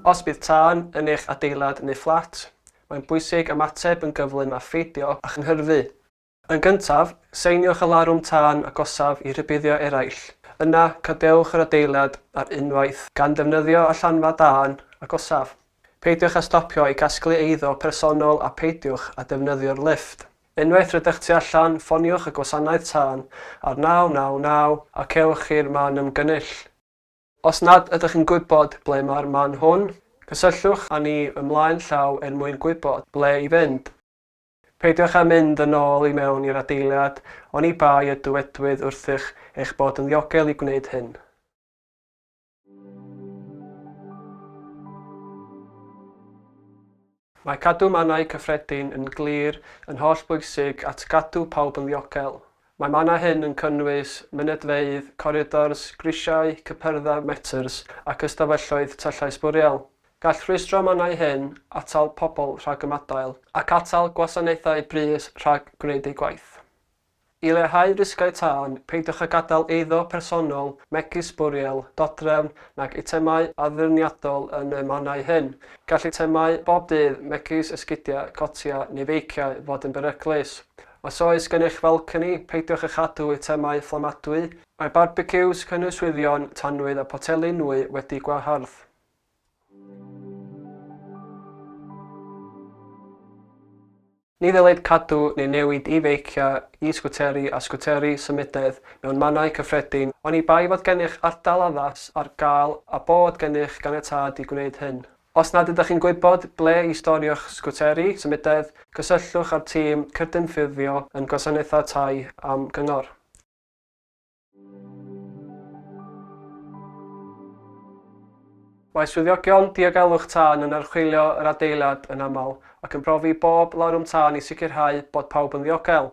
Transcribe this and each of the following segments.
Os bydd tân yn eich adeilad neu fflat, mae'n bwysig ymateb yn gyflym a pheidio â chynhyrfu. Yn gyntaf, seiniwch y larwm tân agosaf i rybuddio eraill. Yna, cadewch yr adeilad ar unwaith, gan ddefnyddio allanfa dân agosaf. Peidiwch â stopio i gasglu eiddo personol a pheidiwch â defnyddio'r lifft. Unwaith rydych tu allan, ffoniwch y gwasanaeth tân ar 999 a cewch i'r man ymgynnull. Os nad ydych yn gwybod ble mae'r man hwn, cysylltwch â ni ymlaen llaw er mwyn gwybod ble i fynd. Peidiwch â mynd yn ôl i mewn i'r adeilad, oni bai y dywedwyd wrthych eich bod yn ddiogel i gwneud hyn. Mae cadw mannau cyffredin yn glir yn hollbwysig at gadw pawb yn ddiogel. Mae mannau hyn yn cynnwys mynedfeydd, coridors, grisiau, cypyrddau, metrs ac ystafelloedd tyllau sbwriel. Gall rhwystro mannau hŷn atal pobl rhag ymadael ac atal gwasanaethau brys rhag gwneud eu gwaith. I leihau risgau tân, peidiwch â gadael eiddo personol, megis sbwriel, dodrefn nag eitemau addurniadol yn y mannau hŷn. Gall eitemau bob dydd, megis esgidiau, cotiau neu feiciau, fod yn beryglus. Os oes gennych falconi, peidiwch â chadw eitemau fflamadwy. Mae barbeciws, cynnwyswyddion, tanwydd a photeli nwy wedi gwahardd. Ni ddylid cadw neu newid e-feiciau, e-sgwteri a sgwteri symudedd mewn mannau cyffredin oni bai fod gennych ardal addas ar gael a bod gennych ganiatâd i gwneud hyn. Os nad ydych chi'n gwybod ble i storio'ch sgwteri symudedd, cysylltwch â'r tîm cydymffurfio yn Gwasanaethau Tai am gyngor. Mae swyddogion diogelwch tân yn archwilio yr adeilad yn aml ac yn profi bob larwm tân i sicrhau bod pawb yn ddiogel.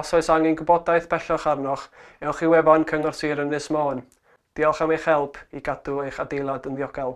Os oes angen gwybodaeth bellach arnoch, ewch i wefan Cyngor Sir Ynys Môn. Diolch am eich help i gadw eich adeilad yn ddiogel.